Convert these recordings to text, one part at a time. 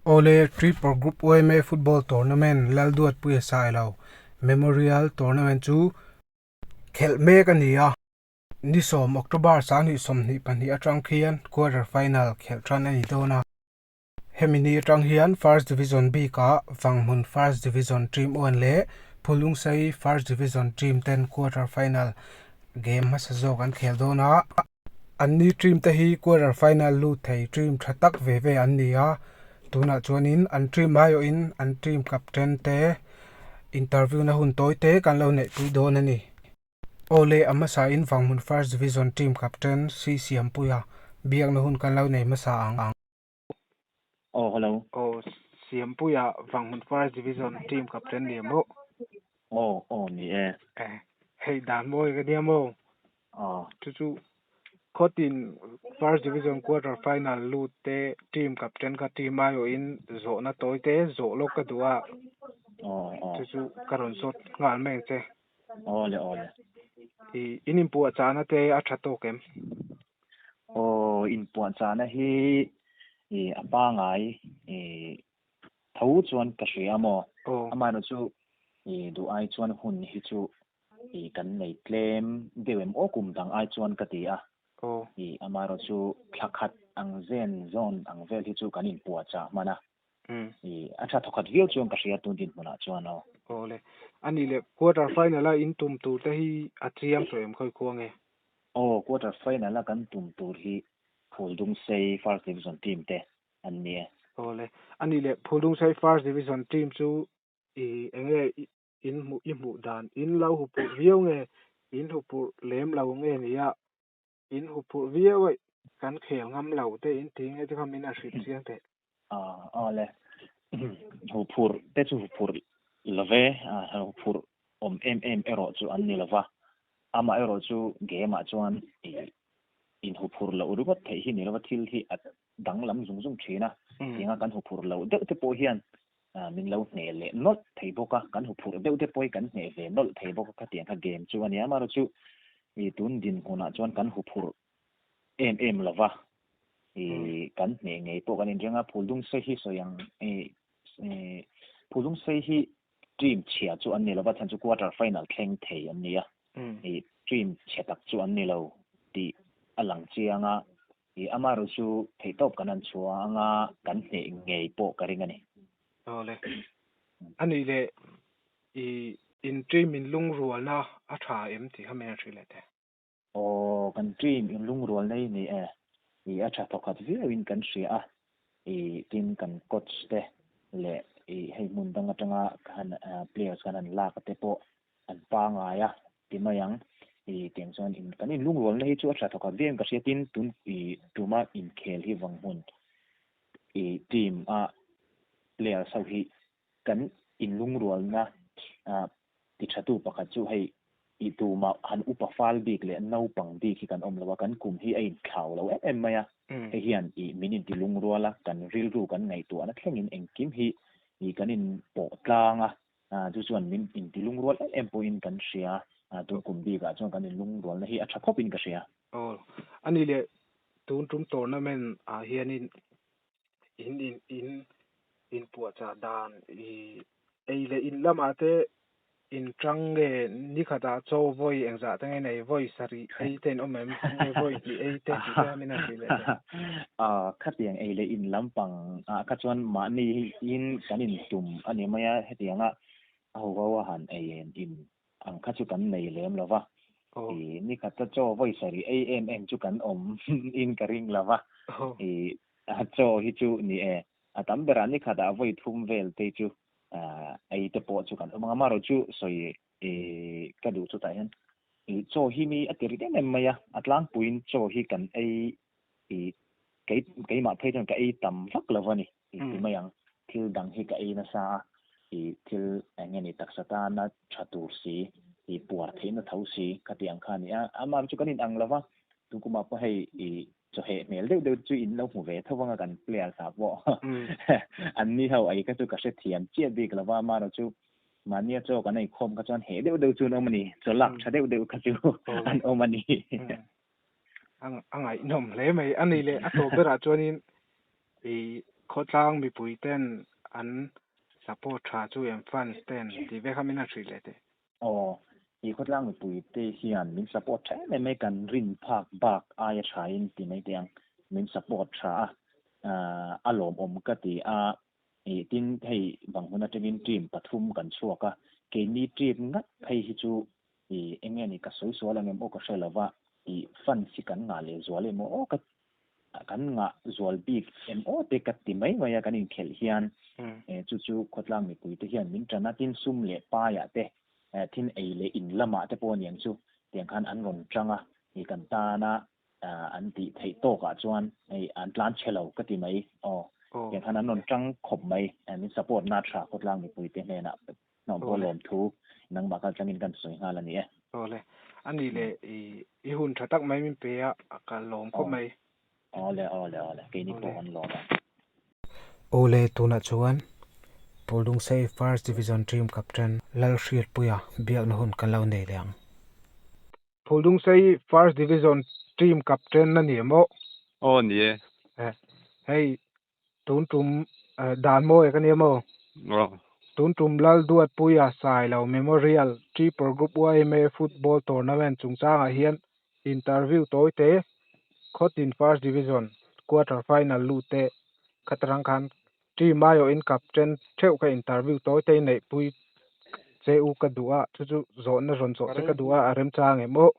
Awle, Tripur Group OMA Football Tournament Lalduat Puia Sailo Memorial Tournament chu khelh mek a ni a. Ni sawm, October sanghnih sawmhnih pahnih atang khian quarter final khelh tan a ni dawn a. Hemi ni atang hian First Division bik ah Vanghmun First Division Team One leh Phulungsai First Division Team ten quarter final game hmasa zawk an khel dawn a. An ni ṭim te hi quarter final lut thei ṭim ṭha tak ve ve an ni a, tunah chuan in an ṭim mai awh in an ṭim captain te interview na hun tawi te kan lo neih pui dawn a ni. Aw le, a hmasa in Vanghmun First Division ṭim captain Sri Siampuia biakna hun kan lo nei hmasa ang. Oh, hello. Oh, Siampuia Vanghmun Forest Division team captain ni mo. Oh, oh ni e. Eh, hei dan mo ka ni mo. Ah. Chu chu Khotin First Division quarter final lut te team captain ka team ayo in zo na toy te zo lo ka duwa. Oh, oh. Chu chu ka ron zot ngal meng che. Aw le aw le. I in in puah chana te a tha tawk em? Aw in puah chana hi i a pangai i tho chuan ka hria maw. Amaherawh chu i duh ai chuan hun hi chu i kan nei tlem deuh em aw kum dang ai chuan ka ti a. I amaherawh chu thlakhat ang zen zawn ang vel hi chu kan in puah chah hman a. Hmm. I a tha thawkhat viau chuan ka hria tun din hmunah chuan aw. Aw le. Ani le quarter final a in tum tur te hi a chiang tawh em khawih khuang e. Aw quarter final a kan tum tur hi Phuldungsei first division team te an ni e. Aw le. Ani le Phuldungsei first division team chu i enge in hmuh i hmuh dan in lo hupurh viau nge in hupurh lem lo nge nia in hu phurh viau aih kan khel ngam lo te in ti nge chu kha min a hrilh chiang thei. A a le hu phurh te chu hu phurh love a hu phurh awm em em erawh chu an ni lova amah erawh chu game ah chuan in hu phurh loh ringawt theih hi ni lova thil hi a danglam zung zung thin a tinga kan hu phurh loh deuh te pawh hian Aa, min lo hneh leh nawlh thei bawk a, kan huphurh deuh te pawhi kan hneh ve nawlh thei bawk a, khatiang kha game chu a nia. Amaherawhchu ih tun dinhmunah chuan kan huphurh em em lo va, ih kan hneh ngei pawh kan inreng a. Phuldungsei hi sawi ang ih ih Phuldungsei hi team chhia chu an ni lo va, chhan chu quarter final thleng thei an ni a, ih team chhia tak chu an ni lo tih a lang chiang a. Hi amaherawh chu theihtawp kan han chhuah ang a, kan hneh ngei pawh ka ring a ni. Aw le. A nih leh, i intrim inlungrualna a tha em tih kha min han hrih leh te. Aw, kan trim inlungrualna hi ni e. I a tha thawkhat viauin kan hria a, i tin kan coach te leh i hei hmun dang atanga kan players kan han lak te pawh an pangai a ti mai ang i tiang chuan in kan inlungrual na hi chu a hriat thawkhat viau in ka hriat in tun i tuma inkhel hi vang hun i team a players ho hi kan inlungrual na a ti tha tu pakhat chu hei i tuma han upa fal bik leh naupang bik hi kan awm lo a kan kum hi a in thlau lo em em mai a hei hian i min in ti lungrual a kan rilru kan ngaihtuah na thleng in engkim hi i kan in pawh tlang a a, chu chuan min inti lungrual em em pawhin kan hria a, tun kum bikah chuan kan inlungrualna hi a tha khawpin ka hria. Aw, a ni le, tun tum tournament ah hianin in in in inpuahchah dan i ei leh in lamah te in tang nge nikhat ah chaw vawi engzah te nge nei vawi sarih ei ten awm em nge vawi tih ei te tih te min a hrih leh. A khatiang ei leh in lampang ah kha chuan mahni in kan in tum a ni mai a, hetiang a a ho ho a han ei em in ang kha chu kan nei lem lo va, i ni khat a chaw vawi sarih ei em em chu kan awm in ka ring lo va, i a chaw hi chu ni e, a tam berah ni khat ah a vawi thum vel te chu ei te pawh chu kan awm ang a, mah ro chu sawi I ka duh chutah hian i chaw hi mi a ti rit em em mai a, a tlangpuiin chaw hi kan ei i kei keimah phei chuan ka ei tam vak lo va ni i ti mai ang. Thil dang hi ka ei nasa a, i thil eng nge ni taksa tana tha tur si, i puar theih na tho si ka ti ang kha ni a. Amah chu kan inang lo va, tunkumah pawh hei i chawheh hmel deuh deuh te chu in lo hmu ve tho vang a kan player hna pawh. An ni ho ei kha chu ka hrethiam chiah bik lo va, mah erawh chu Mahnia chaw kan ei khawm kha chuan heh deuh deuh chu an awm a ni, chaw lak tha deuh deuh kha chu an awm a ni. A ngaihnawm hle mai a ni le, a chaw berah chuanin i khawtlang mipui ten an support tha chu em fans ten tih vek kha min han hrih leh teh. Aw, i khawtlang mipui te hian min support tha em em e, kan rin phak bak aia thain ti mai te ang min support tha a, a lawmawm ka ti a, Nih tin hei bang hun atangin ṭim pathum kan chhuak a, keini ṭim ngat phei hi chu ih eng nge ni ka sawi sual ang em aw ka hre lo va tih fans hi kan ngah leh zual em aw ka kan ngah zual bik em aw te ka ti mai mai a kan inkhelh hian eh chu chu khawtlang mipui te hian min ṭan a tin sum leh pai ah te eh thin ei leh in lamah te pawh aniang chu tiang khan an rawn ṭang a ih kan tan a an tih theih tawkah chuan hei an tlan che lo ka ti mai aw tiang khan an rawn tang khawp mai an in support na tha khawtlang mipui te hnenah hnawhbawl lawm thu nangmah kal changin kan sawi nghal a ni e aw le a ni le i i hun tha tak mai min pe a ka lawm khawp mai aw le aw le aw le kei ni pawh an lawm a aw le tunah chuan Pawlungsei first division team captain Lalhriatpuia biakna hun kan lo nei leh ang. Phuldungsei first division team captain na nia maw? Aw ni e. Eh, hei tuntum eh, dan mawi ka nia maw? Aw. Tuntum lal duat puia sai lo memorial tripur group yma football tournament chungchangah hian interview tawi te khawtin first division quarter final lut te khatrang khan Tui mai awh in kap chen theuh ka interview tawi ta i neih pui che u ka duh a, chu chu zawhna rawn zawh che ka duh a, a remchang em aw?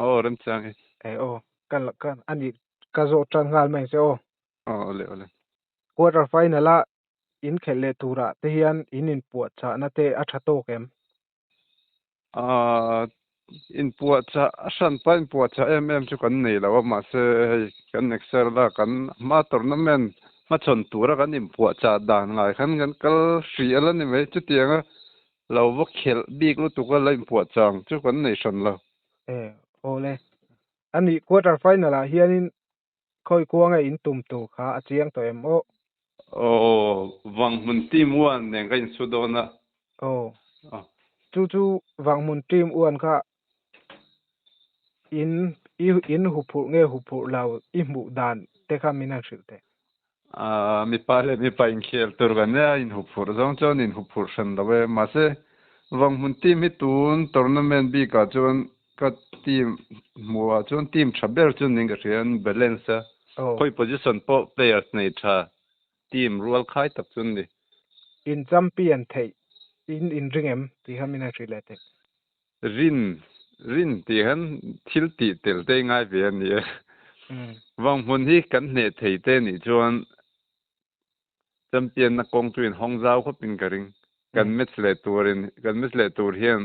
Aw remchang e. E aw, ka la ka a nih ka zawh tan nghal mai se aw. Aw awle awle. Quarter final a inkhelh leh turah te hian in inpuahchahna te a tha tawk em? Ahh inpuahchah a hran pah inpuahchah em em chu kan nei lo a mahse hei kan next year la kan hma tournament hma chawn tura kan inpuahchah dan ngai khan kan kal hri alh a ni mai chuti anga lo va khelh bik lutuk a la inpuahchah ang chu kan nei hran lo. Aw le a nih quarter final ah hianin khawi kuanga in tum tur kha a chiang tawh em aw. Aw, vang hmun team one nen ka in su dawn a. Aw, chu chu vang hmun team one kha in i in huphurh nge huphurh lo i hmuh dan te kha min han hrilh teh. Aaa, mipa leh mipa inkhel tur kan nia, inhup phurh zawng chuan inhup phurh hran lo e. Mahse, vang hmun team hi tun tournament bikah chuan ka team hmuhah chuan team tha ber chu ning ka hria an balance a. Aw. Khawi position pawh players nei tha, team rual khai tak chu an ni. In champion theih in in ring em? Tih kha min han hrih leh teh. Rin, rin tih khan thil tih tel te ngai ve a ni e. Vang hmun hi kan hneh thei te nih chuan champion na kawng chu in hawng zau khawp in ka ring. Kan match leh tur in, kan match leh tur hian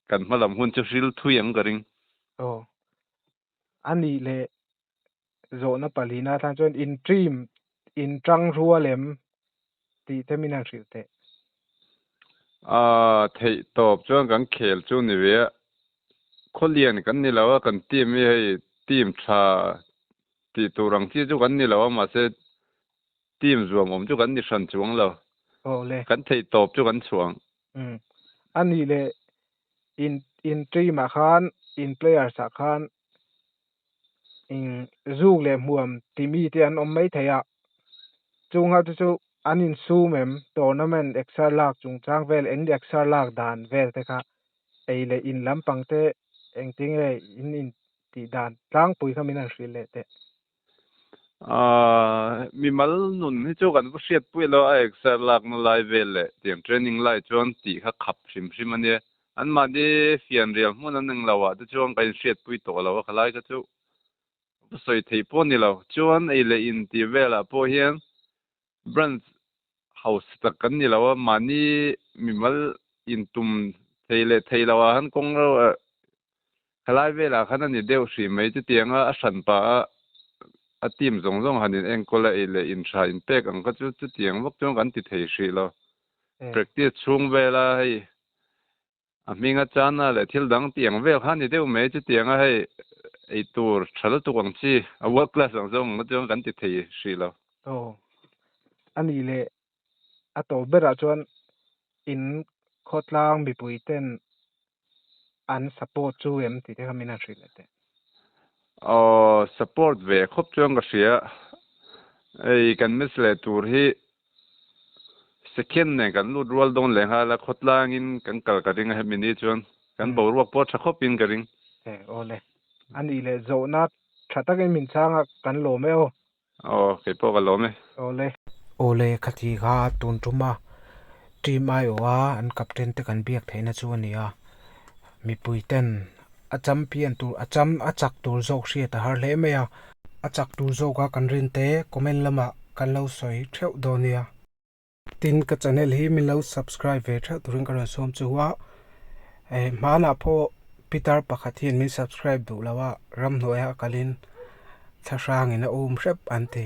kan hma lam hun chu hril thui ang ka ring. a nih leh zawhna palin a tan chuan in trim in tangrua lem tih te min han hrilh teh. Aa theih tawp chuan kan khel chu ni ve a, khawlian kan ni lo a kan team hi hei team tha tih tur ang chi chu kan ni lo a mahse team zuam awm chu kan ni hran chuang lo, kan theih tawp chu kan chhuah ang. Umm a nih leh in in team ah khan in players ah khan imm zuk leh hmuam ti mi te an awm mai thei a chung ho te chu an in sum em tournament exer lak chung chang vel eng exer lak dan vel te kha ei leh in lampang te engtin nge in in tih dan tlangpui kha min han hrilh leh teh. Aaa, mimal nun hi chu kan va hriat puih lo a, exer lakna lai vel leh tiang training lai chuan tih kha khap hrim hrim a nia. An mahni fian rial hmun an eng lohah te chuan kan inhriat pui tawh lo a, khalai kha chu ka sawi theih pawh ni lo. Chuan ei leh in tih velah pawh hian Branch house tak kan ni lo a, mahni mimal in tum thei leh thei lo ah han kawng reuh a, helai vel ah khan a ni deuh hri mai chu tiang a, a hran pa a, a team zawng zawng han in enkawl a, ei leh in hra in pek ang kha chu chutiang vak chuan kan ti thei hrih lo, practice chhung vel a hei A hming a chana leh thil dang tih ang vel kha ni deuh mai chutiang a hei eitur tha lutuk ang chi a world class ang zawng ang chuan kan ti thei hrih lo. Aw a nih leh a to berah chuan in khawtlang mipui ten an support chu em tih te kha min han hrih leh teh. Aw support ve khawp chuan ka hria, ei kan match leh tur hi Second nen kan lut rual dawn leh nghal a, khawtlangin kan kal ka ring a, hemi ni chuan kan boruak pawh tha khawpin ka ring. He aw le, a nih leh zawhna tha takin min chang a, kan lawm e aw. Aw, kei pawh ka lawm e. Aw le. Aw le, kha ti kha a tun tum a, team aio a an captain te kan biak theihna chu a ni a, Mipui ten a champion tur a cham a chak tur zawk hriat a har hle mai a. A chak tur zawka kan rin te comment lamah kan lo sawi theuh dawn nia. Tin ka channel hi min lo subscribe ve theuh turin ka rawn sawm chu a, eh hmanah pawh Pitar pakhat hian min subscribe duh lo a, ramhnuaia a kalhin thlahrangin a um hrep an ti.